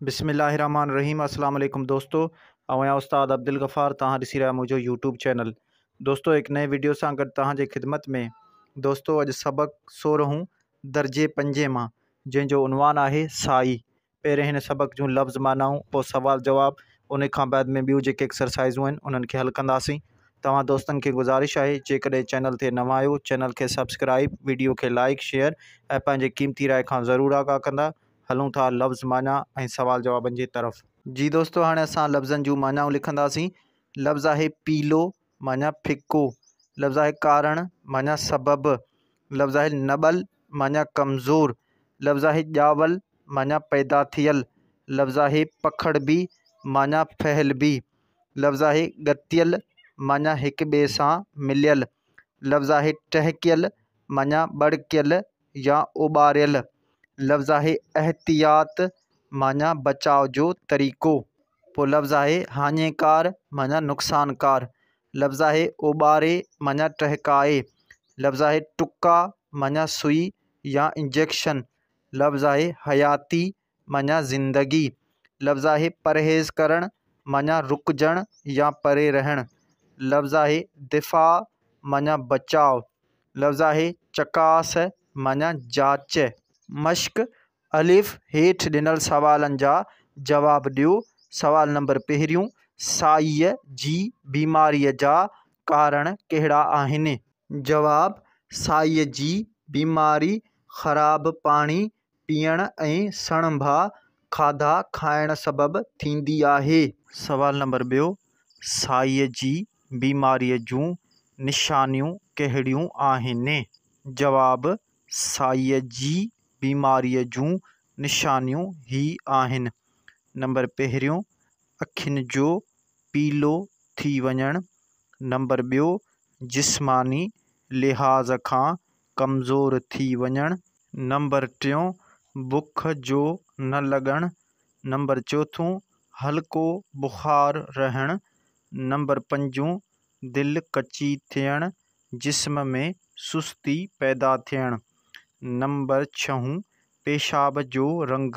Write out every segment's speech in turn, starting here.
بسم الله الرحمٰن الرحيم السلام عليڪم دوستو آئون آهيان استاد عبدالغفار توهان ڏسي رهيا آهيو منهنجو يوٽيوب چينل دوستو هڪ نئين ويڊيو سان گڏ توهان جي خدمت ۾ دوستو اڄ سبق سورهون درجي پنجين مان جنهن جو عنوان آهي سائي پهرين هن سبق جون لفظ معنائون پوء سوال جواب ان کان بعد ۾ ٻيون جيڪي ايڪسرسائزون آهن انهن کي حل ڪنداسين توهان دوستن کي گذارش آهي جيڪڏهن چينل تي نوان آهيو چينل کي سبسڪرائب ويڊيو کي لائڪ شيئر ۽ پنهنجي قيمتي راء کان ضرور آگاهه ڪندا هلون ٿا لفظ معنيٰ ۽ سوال جوابن جي طرف. جي دوستو هاڻي اسان لفظن جون معنيٰون لکنداسين. لفظ آهي پيلو معنيٰ ڦڪو، لفظ آهي ڪارڻ معنيٰ سبب، لفظ آهي نٻل معنيٰ ڪمزور، لفظ آهي ڄاول معنيٰ پيدا ٿيل، لفظ آهي پکڙبي معنيٰ ڦهلبي، لفظ آهي ڳتيل معنيٰ هڪ ٻئي سان مليل، لفظ آهي ٽهڪيل معنيٰ ٻڙڪيل يا اوٻاريل، لفظ آهي احتياط معنيٰ بچاء جو طريقو، پوء لفظ آهي هاڃيڪار معنيٰ نقصانڪار، لفظ آهي اوٻاري معنيٰ ٽهڪائي، لفظ آهي ٽڪا معنيٰ سئي يا انجيڪشن، لفظ آهي حياتي معنيٰ زندگي. لفظ آهي پرهيز ڪرڻ معنيٰ رڪجڻ يا پري رهڻ. لفظ آهي دفاع معنيٰ بچاء. لفظ آهي چڪاس معنيٰ جاچ. مشق، الف، هيٺ ڏنل سوالن جا جواب ڏيو، سوال نمبر پهريون، سائيء جي بيماريء جا ڪارڻ ڪهڙا آهن؟ جواب، سائيء جي بيماري خراب پاڻي پيئڻ ۽ سڻڀا کاڌا کائڻ سبب ٿيندي آهي. سوال نمبر ٻيو، سائيء جي بيماريء جون نشانيون ڪهڙيون آهن؟ جواب، سائيء جي بيماريء جون نشانيون هي آهن، نمبر پهريون، اکين جو پيلو ٿي وڃڻ، نمبر ٻيو، جسماني لحاظ کان ڪمزور ٿي وڃڻ. نمبر ٽيون، بک جو نه لڳڻ. نمبر چوٿون، هلڪو بخار رهڻ. نمبر پنجون، دل ڪچي ٿيڻ، جسم ۾ سستي پيدا ٿيڻ. نمبر ڇهون، پيشاب جو رنگ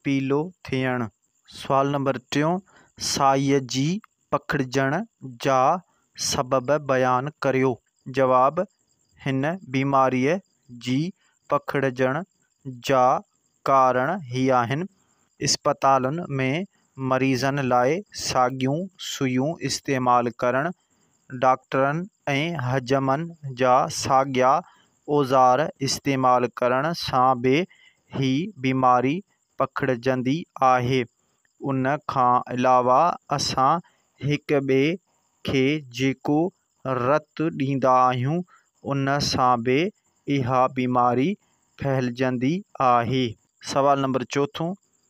پيلو ٿيڻ. سوال نمبر ٽيون، سائيء جي پکڙجڻ جا سبب بيان ڪريو. جواب، هن بيماريء جي پکڙجڻ جا ڪارڻ هي آهن. اسپتالن ۾ مريضن لاء ساڳيون سوئيون استعمال ڪرڻ، ڊاڪٽرن ۽ حجمن جا ساڳيا اوزار استعمال ڪرڻ سان به هي بيماري پکڙجندي آهي. ان کان علاوه اسان هڪ ٻئي کي جيڪو رت ڏيندا آهيون ان سان به اها بيماري ڦهلجندي آهي. سوال نمبر چوٿون،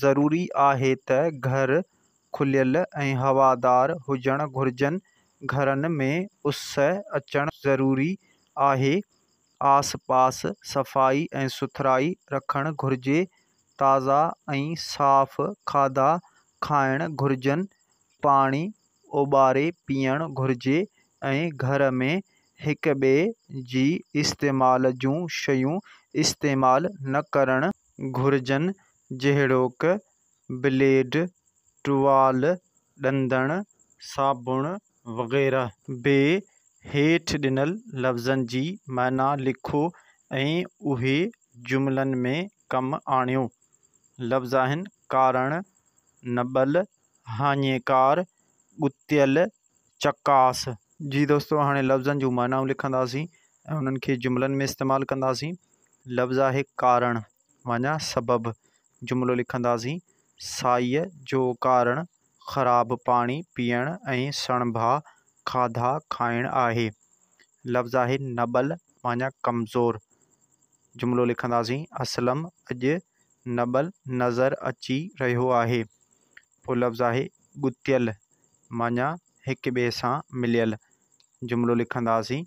ضروري آهي ته گهر کليل ۽ هوادار هجڻ گهرجن، گهرن ۾ اس اچڻ ضروري آهي، آس پاس صفائي ۽ سٿرائي رکڻ گهرجي، تازا ۽ صاف کاڌا کائڻ گهرجن، پاڻي اوٻاري پيئڻ گهرجي ۽ گهر ۾ هڪ ٻئي جي استعمال جون شيون استعمال نه ڪرڻ گهرجن جهڙوڪ، بليڊ، ٽوال، ڏندڻ، صابڻ وغيره. ب، هيٺ ڏنل لفظن جي معنيٰ لکو ۽ اهي جملن ۾ ڪم آڻيو. لفظ آهن، ڪارڻ، نٻل، هاڃيڪار، ڳتيل، چڪاس. جي دوستو هاڻي لفظن جون معنائون لکنداسين ۽ انهن کي جملن ۾ استعمال ڪنداسين. لفظ آهي ڪارڻ معنيٰ سبب. جملو لکنداسين، سائيء جو ڪارڻ خراب پاڻي پيئڻ ۽ سڻڀا کاڌا کائڻ آهي. لفظ آهي نٻل معنيٰ ڪمزور. جملو لکنداسين، اسلم اڄ نٻل نظر اچي رهيو آهي. پوء لفظ آهي ڳتيل معنيٰ هڪ ٻئي سان مليل. جملو لکنداسين،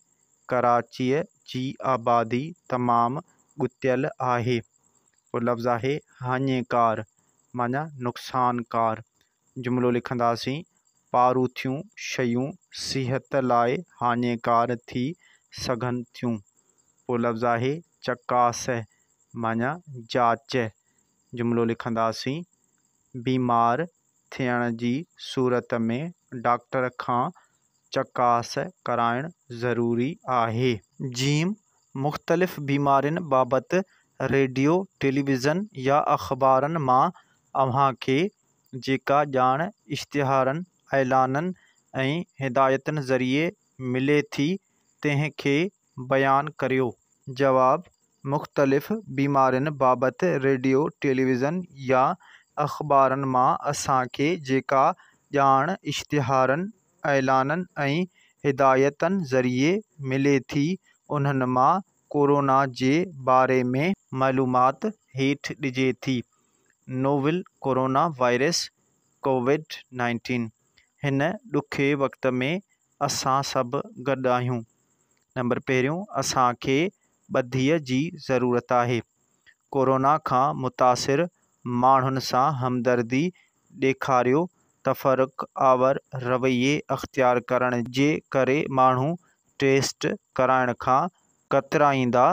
ڪراچيء جي آبادي تمام ڳتيل آهي. پوء لفظ آهي هاڃيڪار معنيٰ نقصانڪار. جملو لکنداسين، پاروٿيون شيون صحت لاء هاڃيڪار ٿي سگهن ٿيون. پوء لفظ آهي، چڪاس معنيٰ جاچ. جملو لکنداسين، بيمار ٿيڻ جي صورت ۾ ڊاڪٽر کان چڪاس ڪرائڻ ضروري آهي. جيم، مختلف بيمارين بابت ريڊيو، ٽيليويزن يا اخبارن مان اوهان کي جيڪا ڄاڻ اشتهارن، اعلانن ۽ هدايتن ذريعي ملي ٿي، تنهن کي بيان ڪريو. جواب، مختلف بيمارين بابت ريڊيو، ٽيليويزن يا اخبارن مان اسان کي جيڪا ڄاڻ اشتهارن، اعلانن ۽ هدايتن ذريعي ملي ٿي، انهن مان ڪورونا جي باري ۾. معلومات هيٺ ڏجي ٿي. Novel coronavirus COVID nineteen هن ڏکي وقت ۾ اسان سڀ گڏ آهيون نمبر پهريون اسان کي ٻڌيء جي ضرورت آهي ڪورونا کان متاثر ماڻهن سان همدردي ڏيکاريو تفرق آور رويي اختيار ڪرڻ جي ڪري ماڻهو ٽيسٽ ڪرائڻ کان ڪترائيندا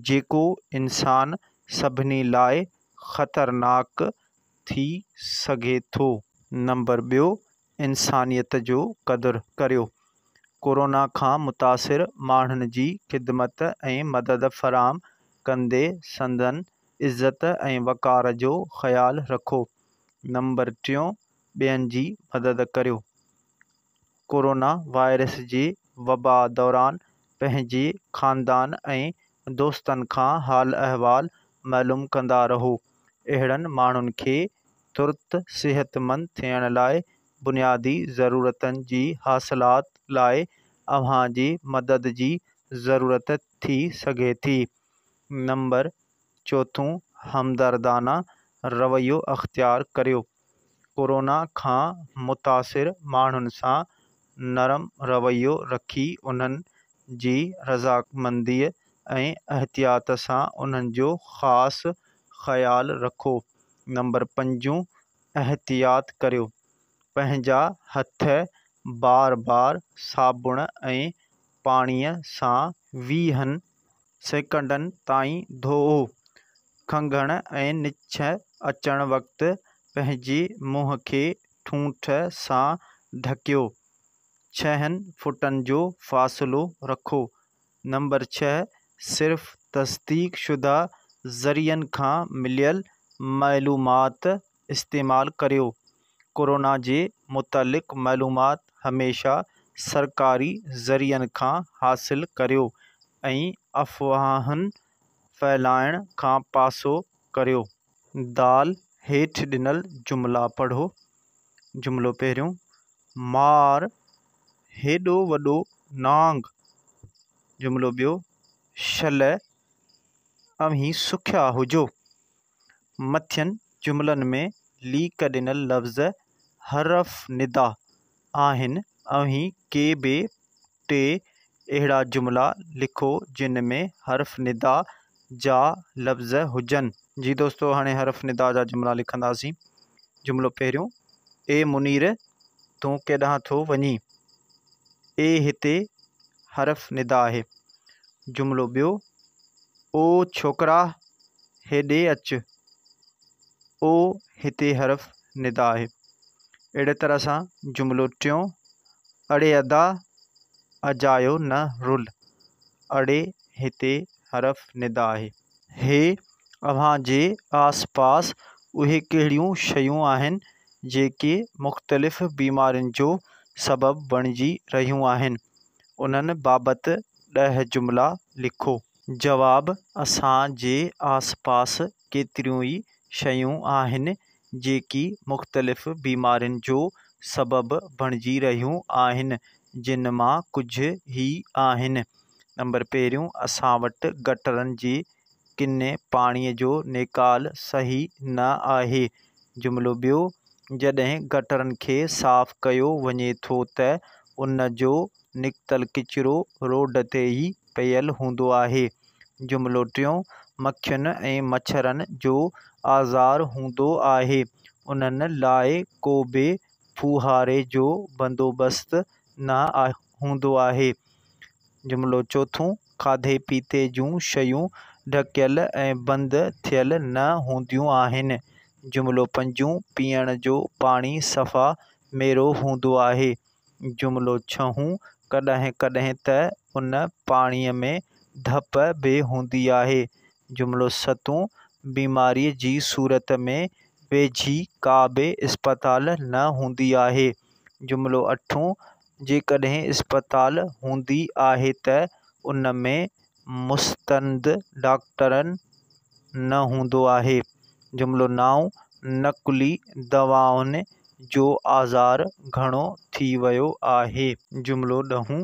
جيڪو انسان سڀني لاء خطرناڪ ٿي سگهي ٿو. نمبر ٻيو انسانيت جو قدر ڪريو. ڪورونا کان متاثر ماڻهن جي خدمت ۽ مدد فراهم ڪندي سندن عزت ۽ وقار جو خيال رکو. نمبر ٽيون ٻين جي مدد ڪريو. ڪورونا وائرس جي وبا دوران پنهنجي خاندان ۽ دوستن کان حال احوال معلوم ڪندا رهو. اهڙن ماڻهن کي ترت صحتمند ٿيڻ لاء بنيادي ضرورتن جي حاصلات لاء اوهان جي مدد جي ضرورت ٿي سگهي ٿي. نمبر چوٿون، همدردانه رويو اختيار ڪريو. ڪورونا کان متاثر ماڻهن سان نرم رويو رکي انهن جي رضامنديء ۽ احتياط سان انهن جو خاص خيال رکو. نمبر پنجون، احتياط ڪريو. پنهنجا هٿ بار بار صابڻ ۽ پاڻيء سان ويهن سيڪنڊن تائين ڌوئو. کنگهڻ ۽ نڇ اچڻ وقت پنهنجي منهن کي ٺونٺ سان ڍڪيو. ڇهن فٽن جو فاصلو رکو. نمبر ڇهه، صرف تصديق شده ذريعن کان مليل معلومات استعمال ڪريو. ڪورونا جي متعلق معلومات هميشه سرڪاري ذريعن کان حاصل ڪريو ۽ افواهن ڦهلائڻ کان پاسو ڪريو. دال هيٺ ڏنل جملا پڙهو. جملو پهريون، مار هيڏو وڏو نانگ. جملو ٻيو، شل اوهين سکيا هجو. مٿين جملن ۾ ليڪ ڏنل لفظ حرف ندا آهن اوهين ڪي به ٽي اهڙا جملا لکو جن ۾ حرف ندا جا لفظ هجن. جي دوستو هاڻي حرف ندا جا جملا لکنداسين جملو پهريون اي منير تون ڪيڏانهن ٿو وڃين اي هتي حرف ندا آهي جملو ٻيو او ڇوڪرا هيڏي اچ، او هتي حرف ندا آهي. اهڙيء طرح سان جملو ٽيون، اڙي ادا، اجايو نه رل. اڙي هتي حرف ندا آهي. هي، اوهان جي آس پاس اهي ڪهڙيون شيون آهن جيڪي مختلف بيمارين جو سبب بڻجي رهيون آهن؟ انهن بابت ڏهه جملا لکو. جواب، اسان جي آس پاس ڪيتريون ئي شيون آهن جيڪي مختلف بيمارين جو سبب بڻجي رهيون آهن جن مان ڪجهه هي آهن، نمبر پهريون اسان وٽ گٽرن جي ڪني پاڻي جو نيڪال صحيح نه آهي، جملو ٻيو جڏهن گٽرن کي صاف ڪيو وڃي ٿو ته ان جو نڪتل ڪچرو روڊ تي ئي پيل هوندو آهي. جملو ٽيون، مکين ۽ مڇرن جو آزار هوندو آهي، انهن لاء ڪو به ڦوهاري جو بندوبست نه هوندو آهي. جملو چوٿون، کاڌي پيتي جون شيون ڍڪيل ۽ بند ٿيل نه هونديون آهن. جملو پنجون، پيئڻ جو پاڻي صفا ميرو هوندو آهي. جملو ڇهون، ڪڏهن ڪڏهن ته ان پاڻيء ۾ ڌپ به هوندي آهي. جملو ستون، بيماريء جي صورت ۾ ويجهي ڪا به اسپتال نه هوندي آهي. جملو اٺون، جيڪڏهن اسپتال هوندي آهي ته ان ۾ مستند ڊاڪٽرن نه هوندو آهي. جملو نائون نقلي دوائن جو آزار گهڻو ٿي ويو آهي. جملو ڏهون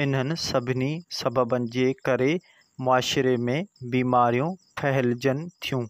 انهن سڀني سببن جي ڪري معاشري ۾ بيماريون ڦهلجن ٿيون.